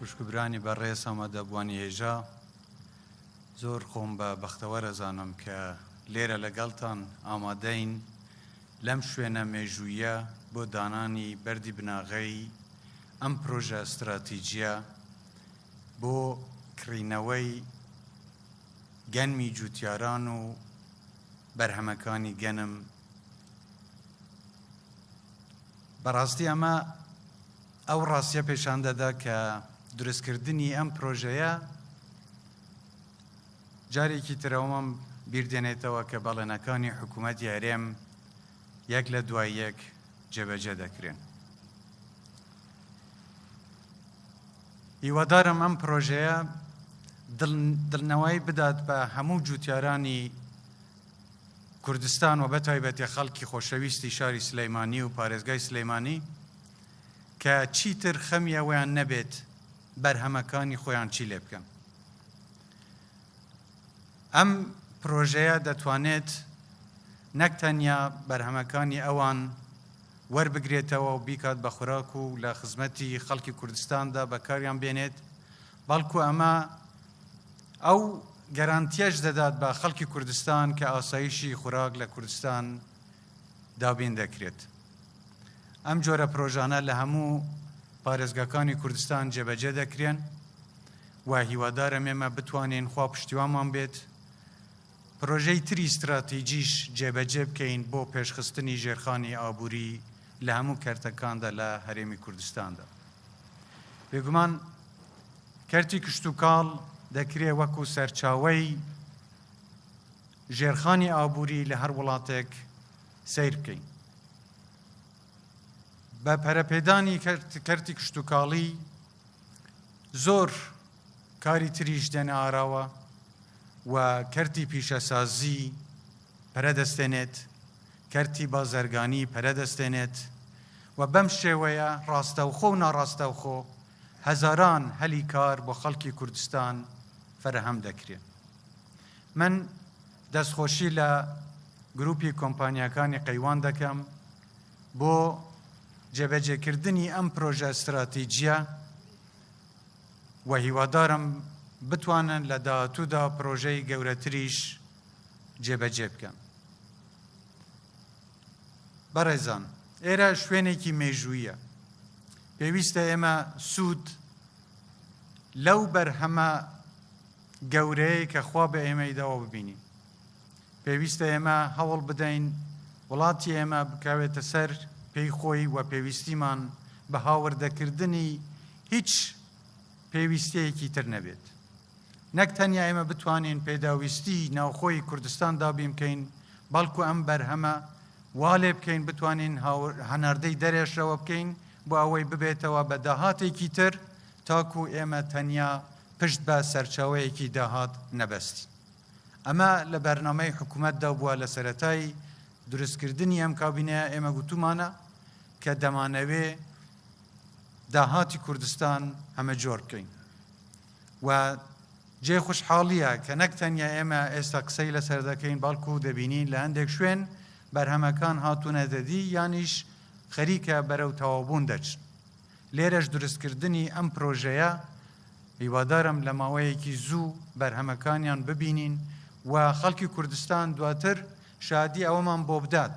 خوشک و برانی بەڕێز ئامادەبووانی هێژا، زۆر خۆم بە بەختەوەر ئەزانم کە لێرە لەگەڵتان ئامادەین لەم شوێنە مێژووییە بۆ دانانی بەردی بناغەی ئەم پرۆژە ستراتیجییە بۆ کڕینەوەی گەنمی جووتیاران و بەرهەمەکانی گەنم، بەڕاستی ئەمە ئەو ڕاستیە پێشان دەدا کە دروستکردنی ئەم پرۆژەیە جارێکی ترەوەم بیردێنێتەوە کە بەڵێنەکانی حکوومەتی هەرێم یەک لە دوای یەک جێبەجێ دەکرێن. هیوادارم ئەم پرۆژەیە دڵنەوەی بدات بە هەموو جوتیارانی کوردستان و بە تایبەتی خەڵکی خۆشەویستی شاری سلیمانی و پارێزگای سلیمانی کە چیتر خەمی ئەوەیان نەبێت بەرهەمەکانی خۆیان چی لێ بکەن. ئەم پرۆژەیە دەتوانێت نەک تەنیا بەرهەمەکانی ئەوان وەربگرێتەوە و بیکات بە خوراک و لە خزمەتی خەڵکی کوردستاندا بەکاریان بێنێت، بەڵکو ئەمە ئەو گەرانتیەش دەدات بە خەڵکی کوردستان کە ئاسایشی خوراک لە کوردستان دابین دەکرێت. ئەم جۆرە پرۆژانە لە هەموو پارێزگاکانی کوردستان جێبەجێ دەکرێن و هیوادارم ئێمە بتوانین خوا پشتیوامان بێت پرۆژەی تری ستراتیجیش جێبەجێ بکەین بۆ پێشخستنی ژێرخانی ئابووری لە هەموو کەرتەکاندا لە هەرێمی کوردستاندا بێگومان کەرتی کشتوکاڵ دەکرێ وەکو سەرچاوەی ژێرخانی ئابووری لە هەر وڵاتێک سەیر بکەین. بە پەرەپێدانی کەرتی کشتوکاڵی زۆر کاری تریش دێنە ئاراوە و کەرتی پیشەسازی پەرە دەستێنێت، کەرتی بازرگانی پەرە دەستێنێت و بەم شێوەیە ڕاستەوخۆ و ناڕاستەوخۆ هەزاران هەلی کار بۆ خەڵکی کوردستان فەرەهەم دەکرێن. من دەستخۆشی لە گروپی کۆمپانیاکانی قەیوان دەکەم بۆ جێبەجێکردنی ئەم پرۆژە ستراتیجیە و هیوادارم بتوانن لە داهاتوودا پرۆژەی گەورەتریش جێبەجێ بکەن. بەڕێزان، ئێرە شوێنێکی مێژوویە، پێویستە ئێمە سوود لەو بەرهەمە گەورەیە کە خوا بە ئێمەی داوە ببینین. پێویستە ئێمە هەوڵ بدەین وڵاتی ئێمە بکاوێتە سەر پێی خۆی و پێویستیمان بە هاوردەکردنی هیچ پێویستەیەکی تر نەبێت. نەک تەنیا ئێمە بتوانین پێداویستی ناوخۆی کوردستان دابینکەین، بەڵکو ئەم بەرهەمە وا لێ بکەین بتوانین هەناردەی دەرێشەوە بکەین بۆ ئەوەی ببێتەوە بە داهاتێکی تر تاکو ئێمە تەنیا پشت بە سەرچاوەیەکی داهات نەبەستین. ئەمە لە بەرنامەی حکومەتدا بووە لە سەرەتای دروستکردنی ئەم کابینەیە ئێمە گوتومانە کە دەمانەوێ داهاتی کوردستان هەمەجۆر بکەین. و جێی خوشحاڵییە کە نەک تەنیا ئێمە ئێستا قسەی لەسەر دەکەین، بەڵکو دەبینین لە هەندێک شوێن بەرهەمەکان هاتوونەتەدی یانیش خەریکە بەرەو تەواوبوون دەچن. لێرەش دروستکردنی ئەم پرۆژەیە هیوادارم لە ماوەیەکی زوو بەرهەمەکانیان ببینین و خەڵکی کوردستان دواتر شادی ئەوەمان بۆ بدات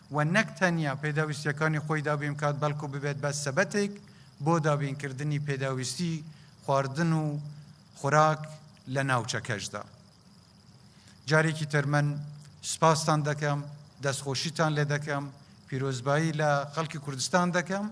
و نەک تەنیا پێداویستییەکانی خۆی دابین بکات، بەڵکو ببێت بە سەبەتێک بۆ دابینکردنی پێداویستی خواردن و خوراک لە ناوچەکەشدا. جارێکی تر من سوپاستان دەکەم، دەستخۆشیتان لێ دەکەم، پیرۆزبایی لە خەڵکی کوردستان دەکەم.